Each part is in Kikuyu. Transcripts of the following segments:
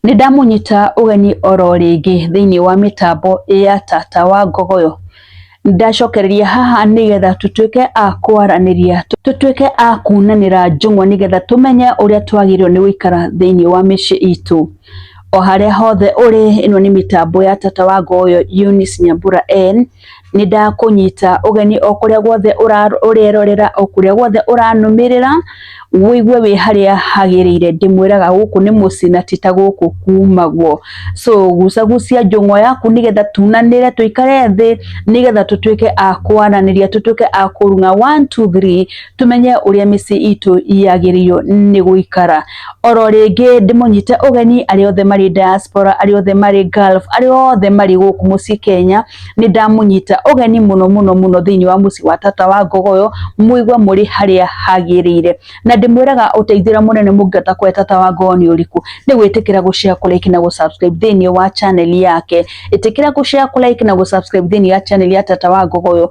Nĩ ndamũnyita ũgeni oro rĩngĩ thĩinĩ wa mĩtambo ya Tata wa Ngogoyo. Ndacokereria haha nĩgetha tũtuĩke a kwaranĩria, tũtuĩke a kunanĩra njũng'wa nĩgetha tũmenye ũrĩa twagĩrĩirwo nĩ gũikara thĩinĩ wa mĩciĩ itũ. O harĩa hothe ũrĩ, ĩno nĩ mĩtambo ya Tata wa Ngogoyo Eunice Nyambura en. nĩ ndakũnyita ũgeni o kũrĩa guothe ũrerorera o kũrĩa guothe ũranũmĩrĩra wĩigue wĩ harĩa hagĩrĩire ndĩmwĩraga gũkũ nĩ mũciĩ na ti ta gũkũ kumagwo so gucagucia njũng'wa yaku nĩgetha tunanĩre tũikare thĩ nĩgetha tũtuĩke a kwaranĩria tũtuĩke a kũrung'a one two three tũmenye ũrĩa mĩciĩ itũ yagĩrĩirwo nĩ gũikara oro rĩngĩ ndĩmũnyite ũgeni arĩa othe marĩ diaspora arĩa othe marĩ Gulf arĩa othe marĩ gũkũ mũciĩ Kenya nĩ ndamũnyita ũgeni mũno mũno mũno thĩinĩ wa mũciĩ wa tata wa ngogoyo mũigwe mũrĩ harĩa hagĩrĩire na ndĩmwĩraga ũteithĩra mũnene mũngĩhota kũhe tata wa ngogoyo nĩ ũrĩkũ nĩ gwĩtĩkĩra gũshare kũ like na gũsubscribe thĩinĩ wa channel yake ĩtĩkĩra gũshare kũ like na gũsubscribe thĩinĩ wa channel ya tata wa ngogoyo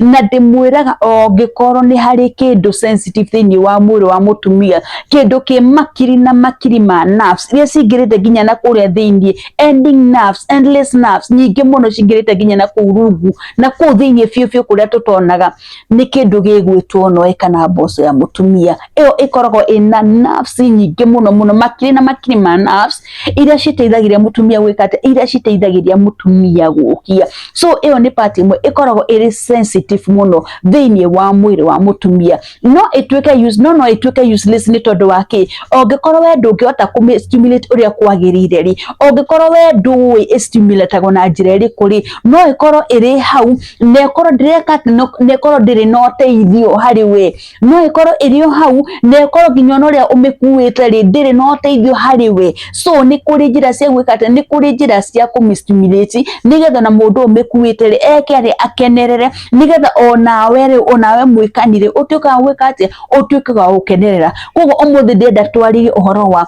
na ndĩmwĩraga ongĩkorwo nĩ harĩ kĩndũ sensitive thĩinĩ wa mwĩrĩ wa mũtumia kĩndũ kĩ makiri na makiri ma nerves iria cingĩrĩte nginya na kũrĩa thĩinĩ ending nerves endless nerves nyingĩ mũno cingĩrĩte nginya na kũu rungu na kũu thĩinĩ biũ biũ kũrĩa tũtonaga nĩ kĩndũ gĩgwĩtwo noe kana mboco ya mũtumia ĩyo ĩkoragwo ĩna nerves nyingĩ mũno mũno makiri na makiri ma nerves iria citeithagĩria mutumia gwika ati iria citeithagĩria mutumia gukia so iyo ni part imwe ikoragwo iri sensitive muno thiini wa mwiri wa mutumia no ituike use no no ituike useless ni tondu wa ki ongikorwo we ndungihota ku stimulate uria kwagirire ri ongikorwo we ndui stimulate na njira iriku ri no ikorwo iri hau na ikorwo ndireka na ikorwo ndiri na uteithio hari we no ĩkorwo ĩrĩ o hau na ĩkorwo nginya ona ũrĩa ũmĩkuĩte rĩ ndĩrĩ na ũteithio harĩ we so nĩ kũrĩ njĩra cia gwĩka atĩ nĩ kũrĩ njĩra cia kũmĩstimulate nĩgetha na mũndũ ũyũ ũmĩkuĩte rĩ eke rĩ akenerere nĩgetha onawe rĩ onawe mwĩkani rĩ ũtuĩke wa gwĩka atĩ ũtuĩke wa gũkenerera koguo ũmũthĩ ndĩrenda twarĩrie ũhoro wa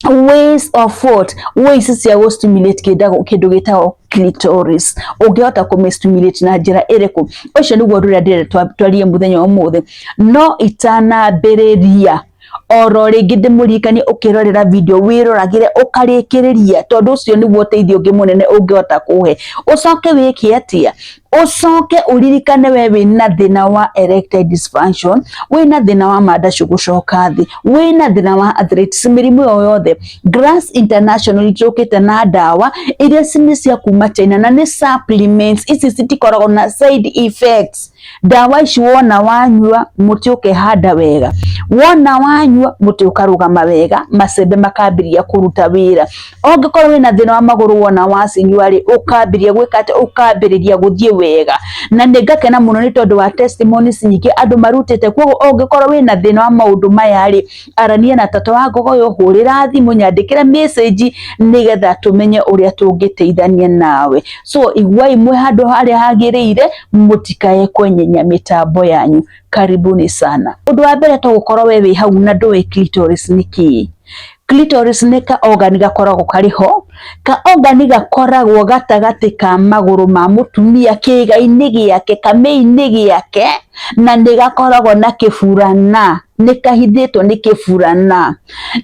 ways of what ways cia gå stimulate kĩndagå kĩndå gä tagwo clitoris ũngĩhota kũmĩ stimulate na njĩra ĩrĩkũ ũcio nĩguo ũndũ ũrĩa ndĩrenda twa- twarie mũthenya ũmũthĩ no itanambĩrĩria oro rĩngĩ ndĩmũririkanie ũkĩrorera video wĩroragĩre ũkarĩkĩrĩria tondũ ũcio nĩguo ũteithio ũngĩ mũnene ũngĩhota kũhe ũcoke wĩke atĩa ucoke uririkane we wina thina wa erectile dysfunction wina thina wa mada gucoka thi wina thina wa arthritis mirimu yo yothe Grass International icokite na dawa iria cini cia kuma China na ni supplements ici citikoragwo na side effects dawa ici wona wanyua muti ukehanda wega wona wanyua muti ukarugama wega macembe makambiria kuruta wira Ũngĩkorwo wĩna thĩna wa magũrũ wona wacinyua rĩ, ũkambĩrĩria gwĩka atĩ, ũkambĩrĩria gũthiĩ wega. Na nĩ ngakena mũno nĩ tondũ wa testimonies nyingĩ andũ marutĩte. Kwoguo ũngĩkorwo wĩna thĩna wa maũndũ maya rĩ, arania na tata wa ngogo ũyũ, hũrĩra thimũ, nyandĩkĩre message nĩgetha tũmenye ũrĩa tũngĩteithania nawe. So iguai mwĩ handũ harĩa hagĩrĩire, mũtikae kwenyenya mĩtambo yanyu. Karibuni sana. Ũndũ wa mbere to gũkorwo we wĩ hau na ndũĩ clitoris nĩ kĩĩ. Clitoris nĩ ka organ gakoragwo karĩ ho. Ka organ gakoragwo gatagatĩ ka magũrũ ma mũtumia kĩĩga-inĩ gĩake, kamĩ-inĩ gĩake, na nĩ gakoragwo na kĩburana, nĩ kahithĩtwo nĩ kĩburana.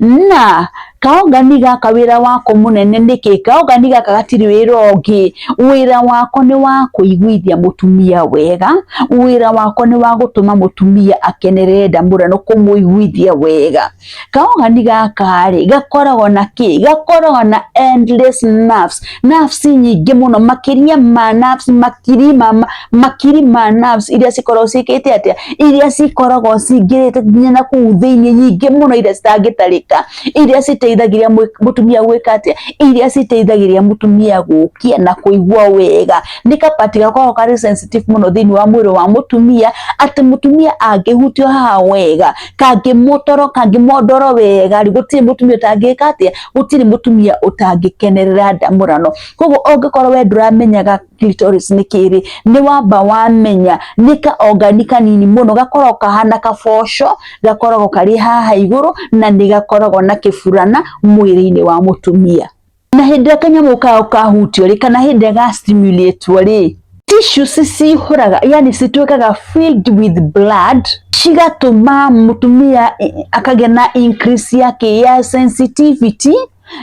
Na ka organ gaka wĩra wako mũnene nĩ kĩĩ? Ka organ gaka gatirĩ wĩra ũngĩ, wĩra wako nĩ wa kũiguithia mũtumia wega, wĩra wako nĩ wa gũtũma mũtumia akenerere nda mũno na kũmũiguithia wega. Kaũgani gaka-rĩ gakoragwo na kĩ? Gakoragwo na endless nerves, nerves nyingĩ mũno makĩria ma nerves makiri ma ma makiri ma nerves iria cikoragwo ciĩkĩte atĩa? Iria cikoragwo cingĩrĩte nginya na kũu thĩiniĩ nyingĩ mũno iria citangĩtarĩka, iria citeithagĩrĩria mũtumia gwĩka atĩa? Iria citeithagĩrĩria mũtumia gũkĩa na kũigua wega. Nĩ ka part gakoragwo karĩ sensitive mũno thĩiniĩ wa mwĩrĩ wa mũtumia atĩ mũtumia angĩhutio haha wega... kangĩmũtoro kangĩmondoro wega rĩ gũtirĩ mũtumia ũtangĩka atĩa gũtirĩ mũtumia ũtangĩkenerera ndamũrano koguo ũngĩkorwo we ndũramenyaga clitoris nĩ kĩrĩ nĩ wamba wamenya nĩ kaongani kanini mũno gakoragwo kahana kaboco gakoragwo karĩ haha igũrũ na nĩ gakoragwo na kĩburana mwĩrĩ-inĩ wa mũtumia. na hĩndĩ ĩrĩa kanyamũ kao kahutio rĩ kana hĩndĩ ĩrĩa gastimulatwo rĩ tissues cihũraga yani cituĩkaga filled with blood cigatũma mũtumia i- akagĩa na increase ya kĩ ya sensitivity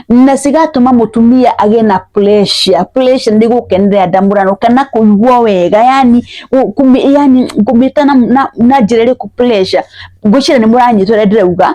na cigatũma mũtumia agĩe na pressure pressure nĩ gũkenerera ndamũrano kana kũigua wega yani gu- kũmĩ- yani kũmĩta na, na, na njĩra ĩrĩkũ pressure ngwĩciria nĩ mũranyitwo ũrĩa ndĩrauga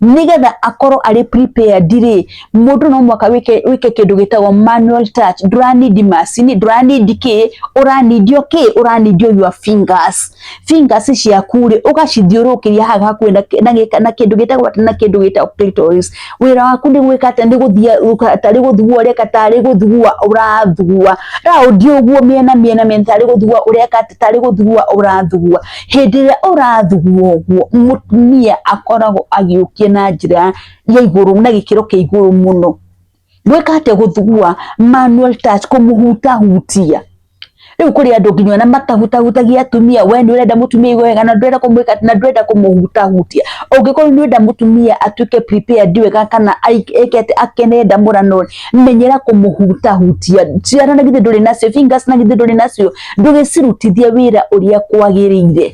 nigetha akorwo arĩ prepared rĩ mundu no mwaka wike wike kindu gitagwo manual touch nduranidi macini nduranidi ki uranidio ki uranidio your fingers fingers ciaku ri ugacithiurukiria haha hakuhi na na- na kindu gitagwo ati na kindu gitagwo clitoris wira waku ni gwika ati ni guthia tari guthugua ureka tari guthugua urathugua raundi uguo miena miena miena tari guthugua ureka ati tari guthugua urathugua Hĩndĩ ĩrĩa ũrathuguma ũguo, mũtumia akoragwo agĩũkio na njĩra ya igũrũ na gĩkĩro kĩa igũrũ mũno. Gwĩka atĩa gũthugua, manual touch, kũmũhutahutia. Rĩu kũrĩ andũ nginya ona matahutahutagia atumia, we nĩ ũrenda mũtumia aigue wega na ndũrenda kũmwĩka atĩ, na ndũrenda kũmũhutahutia. Ũngĩkorwo nĩ ũrenda mũtumia atuĩke prepared wega kana eke atĩ akene ndamũrano rĩ. menyera kũmũhutahutia ciara na githĩ ndũrĩ nacio fingers na githĩ ndũrĩ nacio ndũgĩcirutithie wĩra ũrĩa kwagĩrĩire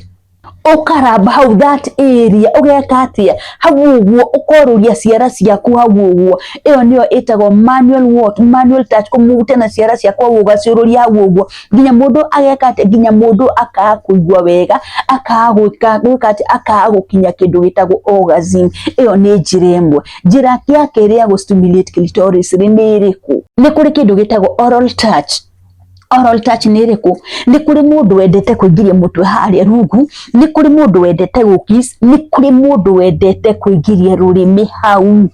ũkaramba hau that area ũgeka atia hau ũguo ũkorũria ciara ciaku hau ũguo ĩyo nĩyo ĩtagwo manual what manual touch kũmute na ciara ciaku hau ũgaciũrũria hau ũguo nginya mũndũ ageka atia nginya mũndũ akaga kũigua wega akaga gwĩka gwĩka atia akaga gũkinya kĩndũ gĩtagwo orgasm ĩyo nĩ njĩra ĩmwe njĩra ya kerĩ ya gũstimulate clitoris rĩ nĩ ĩrĩkũ? Nĩ kũrĩ kĩndũ gĩtagwo oral touch oral touch nĩ ĩrĩkũ? Nĩ kũrĩ mũndũ wendete kũingĩria mũtwe harĩa rungu, nĩ kũrĩ mũndũ wendete gũkiss, nĩ kũrĩ mũndũ wendete kũingĩria rũrĩmĩ hau.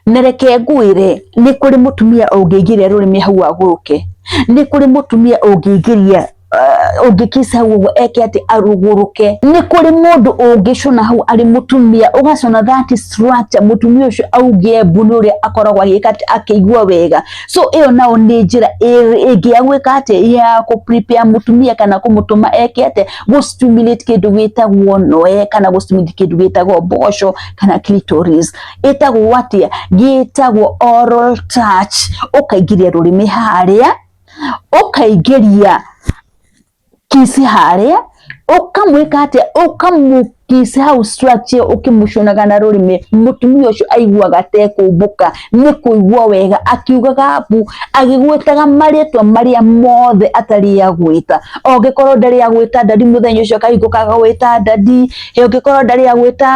Na reke ngwĩre, nĩ kũrĩ mũtumia ũngĩingĩria rũrĩmĩ hau agũrũke, nĩ kũrĩ mũtumia ũngĩingĩria uh, ũngĩkisa guo eke atĩ arugũrũke nĩ kũrĩ mũndũ ũngĩcona hau arĩ mũtumia ũgacona that structure mũtumia ũcio augie mbu nĩ ũrĩa akoragwo agĩka atĩ akĩigua wega so ĩyo nao nĩ njĩra ĩ- ĩngĩ ya gwĩka atĩ ya kũ prepare mũtumia kana kũmũtũma eke atĩ gũ stimulate kĩndũ gĩtagwo noe kana gũ stimulate kĩndũ gĩtagwo mboco kana clitoris ĩtagwo atĩa gĩtagwo oral touch ũkaingĩria rũrĩmĩ harĩa ũkaingĩria kisi harĩa ũkamwĩka atĩa ũkamũkisi hau structure ũkĩmũcunaga na rũrĩmĩ mũtumia ũcio aiguaga tekũmbũka nĩ kũigua wega akiugaga mbu agĩgwĩtaga marĩtwa marĩa mothe atarĩ agwĩta ongĩkorwo ndarĩ agwĩta ndari mũthenya ũcio akahingũka agwĩta ndadi ongĩkorwo ndarĩ agwĩta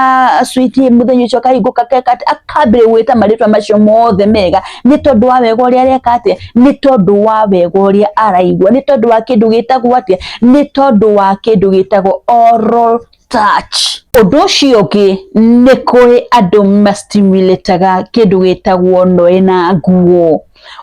sweet mũthenya ũcio akahingũka akambĩrĩria gwĩta marĩtwa macio mothe mega nĩ tondũ wa wega ũrĩa areka atĩa. nĩ tondũ wa wega ũrĩa araigua nĩ tondũ wa kĩndũ gĩtagwo atĩa nĩ tondũ wa kĩndũ gĩtagwo oral touch ũndũ ũcio ũngĩ nĩ kũrĩ andũ mastimulataga kĩndũ gĩtagwo noĩ na nguo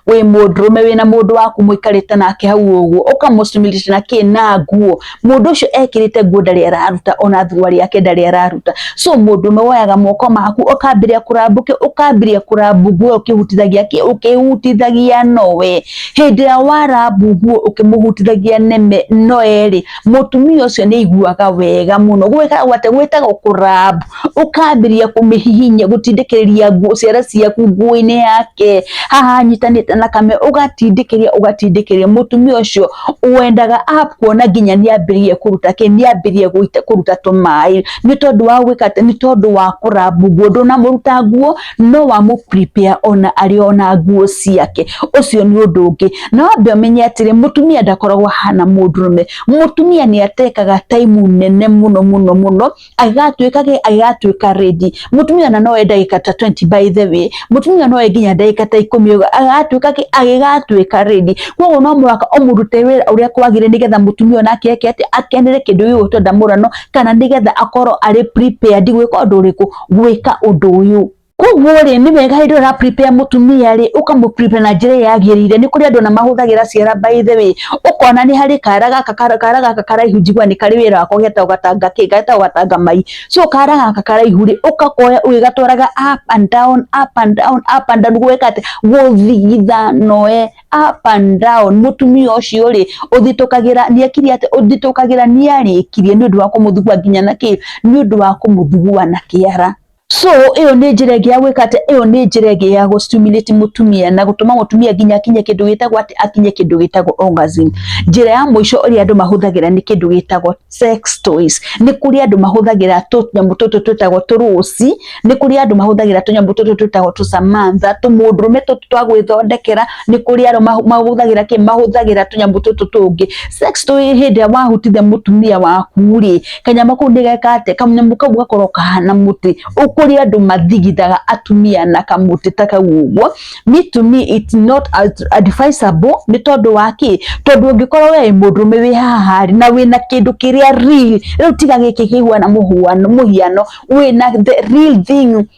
wĩ mũndũrũme wĩna mũndũ waku mũikarĩte nake hau ũguo ũkamũstimulate na kĩ na nguo mundu ucio ekirite nguo ndari araruta ona thuruari yake ndari araruta so mundu me woyaga moko maku ukambiria kurambuke ukambiria kurambu nguo ukihutithagia ki ukihutithagia nowe hindi ya warambu nguo ukimuhutithagia neme noe ri mutumia ucio ni iguaga wega muno gwika gwate gwitaga kurambu ukambĩrĩria kũmĩhihinya gũtindĩkĩrĩria nguo ciara ciaku nguo-inĩ yake haha anyitanĩte na kame ũgatindĩkĩrĩria ũgatindĩkĩrĩria mũtumia ũcio wendaga akuona nginya nĩ ambĩrĩrie kũruta kĩ nĩ ambĩrĩrie gũita- kũruta tũmaĩ nĩ tondũ wa gwĩka atĩ nĩ tondũ wa kũrambu nguo ndũnamũruta nguo no wamũ prepare ona arĩ ona nguo ciake ũcio nĩ ũndũ ũngĩ na wambe ũmenye atĩrĩ mũtumia ndakoragwo ahana mũndũrũme mũtumia nĩ atekaga taimu nene mũno mũno mũno agatuĩka gĩ agatuĩka ready mũtumia na no enda gĩka ta 20 by the way mũtumia no enginya ndagĩka ta ikũmi ũguo agatuĩka gĩ agĩgatuĩka ready koguo no mũhaka ũmũrute wĩra ũrĩa kwagĩrĩire nĩgetha mũtumia ona ake eke atĩ akenere kĩndũ gĩgũtwenda mũrano kana nĩgetha akorwo arĩ prepared gwĩka ũndũ ũrĩkũ gwĩka ũndũ ũyũ Koguo rĩ nĩ wega hĩndĩ ĩrĩa ũraprepare mũtumia rĩ ũkamũprepare na njĩra ĩrĩa yagĩrĩire. Nĩ kũrĩ andũ ona mahũthagĩra ciara by the way, ũkona nĩ harĩ kara gaka kara gaka karaihu njiguaga nĩ karĩ wĩra wako getagwo gatanga kĩ getagwo gatanga mai. So kara gaka karaihu rĩ ũgakoya ũgĩgatwaraga up and down up and down up and down gwĩka atĩ gũthigitha no ee up and down. Mũtumia ũcio rĩ ũthitũkagĩra nĩ ekire atĩ ũthitũkagĩra nĩ arĩkirie nĩ ũndũ wa kũmũthugua nginya na kĩ nĩ ũndũ wa kũmũthugua na kĩara. So ĩyo nĩ njĩra ĩngĩ ya gwĩka atĩ, ĩyo nĩ njĩra ĩngĩ ya gũ stimulate mũtumia na gũtũma mũtumia nginya akinye kĩndũ gĩtagwo atĩ, akinye kĩndũ gĩtagwo orgasm. Njĩra ya mũico ĩrĩa andũ mahũthagĩra nĩ kĩndũ gĩtagwo sex toys. Nĩ kũrĩ andũ mahũthagĩra tũnyamũ tũtũ twĩtagwo tũrũũci, nĩ kũrĩ andũ mahũthagĩra tũnyamũ tũtũ twĩtagwo tũcamanza, tũmũndũrũme tũtũ twa gwĩthondekera, nĩ kũrĩ arĩa mahũthagĩra kĩ? mahũthagĩra tũnyamũ tũtũ tũngĩ. Sex toy hĩndĩ ĩrĩa wahotithia mũtumia waku rĩ, kanyamũ kau nĩ geka atĩ kanyamũ kau gakorwo kahana mũtĩ ũkũrĩ andũ mathigithaga atumia na kamũtĩ ta kau ũguo me to me it's not advisable nĩ tondũ wa kĩ tondũ ũngĩkorwo we mũndũrũme wĩ haha rĩ na wĩna kĩndũ kĩrĩa real rĩu tiga gĩkĩ kĩhuana mũhuano mũhiano wĩna the real thing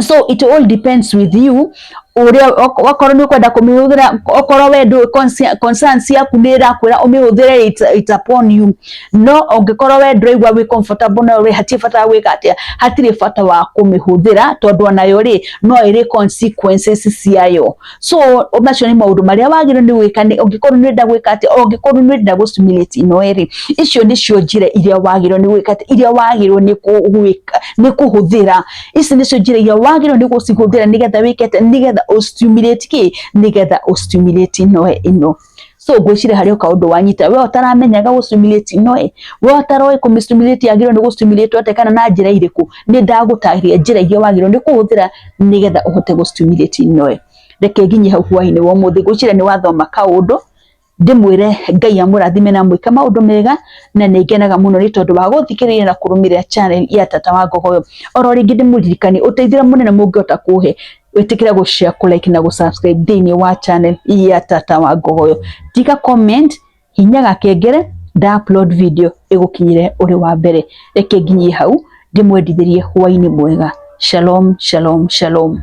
so it all depends with you uria wakorwo ni ukwenda kumihũthĩra okorwo we ndũ concern ciaku nĩ ĩrakwĩra ũmĩhũthĩre it, it upon you no ũngĩkorwo we ndũraigua wĩ comfortable nayo rĩ hatirĩ bata wa gwĩka atĩa hatirĩ bata wa kũmĩhũthĩra tondũ onayo rĩ no ĩrĩ consequences ciayo so macio nĩ maũndũ marĩa wagĩrĩirwo nĩ gwĩka nĩ ũngĩkorwo nĩ ũrenda gwĩka atĩ ũngĩkorwo nĩ ũrenda gũ simulate ino ĩrĩ icio nĩcio njĩra iria wagĩrĩirwo nĩ gwĩka atĩ iria wagĩrĩirwo nĩ gwĩka nĩ kũhũthĩra ici nĩcio njĩra iria wagĩrĩirwo nĩ gũcihũthĩra nĩgetha wĩke atĩ nĩgetha ũ stimulate kĩ nĩgetha ũ stimulate ino ĩno so ngwĩciria harĩ oka ũndũ wanyita we ũtaramenyaga gũ stimulate ino ĩ we ũtaroĩ kũ stimulate yagĩrĩirwo nĩ gũ stimulate atĩa kana na njĩra irĩkũ nĩ ndagũtarĩria njĩra iria wagĩrĩirwo nĩ kũhũthĩra nĩgetha ũhote gũ stimulate ino ĩ reke nginye hau hwainĩ wa ũmũthĩ ngwĩciria nĩ wathoma kaũndũ ndĩmwĩre ngai amũrathime na mwĩke maũndũ mega na nĩ ngenaga mũno nĩ tondũ wa gũthikĩrĩria na kũrũmĩrĩra channel ya tata wa ngogoyo oro rĩngĩ ndĩmũririkanie ũteithio ũrĩa mũnene mũngĩhota kũhe wĩtĩkĩre gũ share kũ like na gũ subscribe thĩinĩ wa channel ya tata wa ngogoyo tika comment hinya gakengere nda upload video ĩgũkinyĩre ũrĩ wa mbere reke nginyie hau ndĩmwendithĩrie hwainĩ mwega shalom shalom shalom